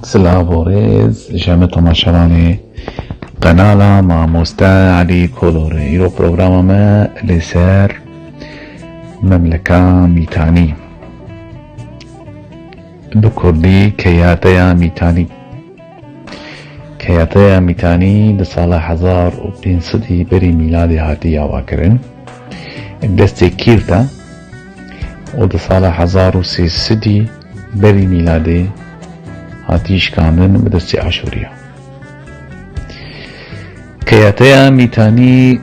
Silav û rêz ji hemû tomaşevanê qenala Mamoste Elî Kolorê. Îro programa me li ser Memleka Mîtanî bi kurdî Keyateya Mîtanî Keyateya Mîtanî di sala hezar û pênc sedî berî mîladê hatî avakirin destê Kîrd e û di sala hezar û sê sedî Berî mîladê hatî şikandin bi destê Aşûriya. Keyateya Mîtanî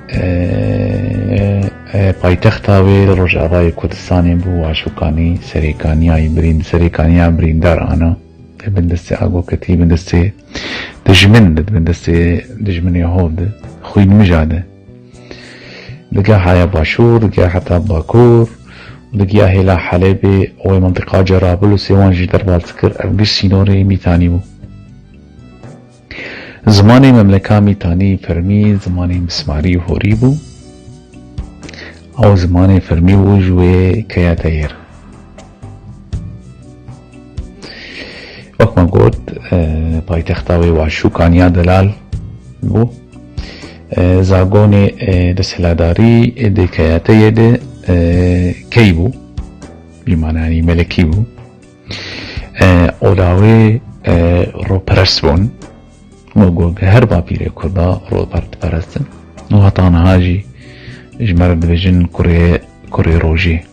paytexta wê li Rojavayê Kurdistanê bû Aşûkanî serêkaniyayî birîn serêkaniya birîndar ana li bin destê agoketî bin destê dijmin li bin destê dijminê hov de xwînmija de Li gehaya Başûr, li geha heta Bakur û li geha hêla Helebê û wê mintiqa Cerabil û Sêwan jî derbas dikir, ev giş sînorê Mîtanî bû. Zimanê memleka Mîtanî fermî zimanê Mismarî û Horî bû. Ew zimanê fermî bû ji wê keya Teyêr. Wek me got paytexta wê Waşû Kaniya Delal bû. Zagonê desthiladarî dê keyateyê de key bû. Bi mananî melekî bû. Ola wê roperest bûn. Me got her bapîrê Kurda ropertperestin. Û heta niha jî ji me re dibêjin kurê kurê rojê.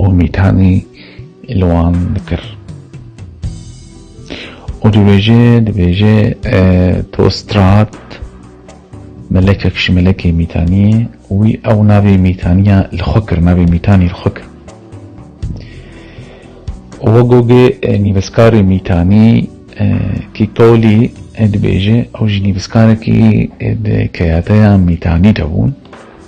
û mîtanî li wan dikir û dibêje dibêje to strat melekek ji melekê mîtaniyê wî ew navê mîtaniya li xwe kir navê mîtanî li xwe kir û gogê nîvizkarê mîtanî kîtolî dibêje ew jî nîvizkarekî di keyateya mîtanî de bûn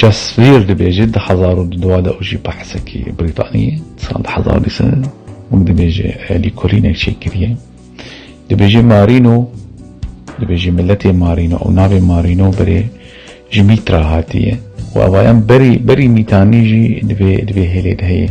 Cesvîr dibêje di hezar û du dua de û jî behsekî Brîtaniyê sal di hezar û dî sed wek dibêje elî kurînek çêkiriye. Dibêje Marîno dibêje miletê Marîno û navê Marîno berê ji mîtra hatiye û evayan berî berî mîtanî jî divê divê hêlê de heye.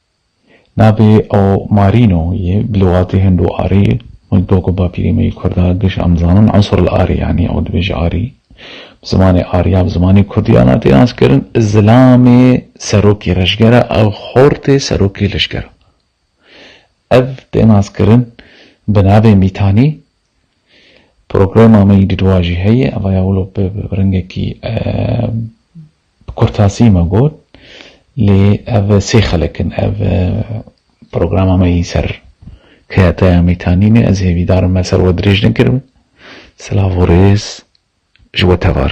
Navê ew Marîno ye, bi lûgatê Hindo-Arî ye. Min got ku bapîrê me yê Kurd a, giş em dizanin Ansur-el-Arî yanî ew dibêje Arî. Bi zimanê Arî ya bi zimanê Kurdî ya na tê naskirin. Zilamê serokê rejger e, ew xortê serokê lişker e. Ev tê naskirin bi navê Mîtanî Programa me yî didwa jî heye, eva ya wilo bi ringekî bi kurtasî me got lê ev sê xelek in. Ev programa me yî ser Keyataya Mîtanînê ez hêvîdar im me ser we dirêj nekiribe. Silav û rêz ji we tevar.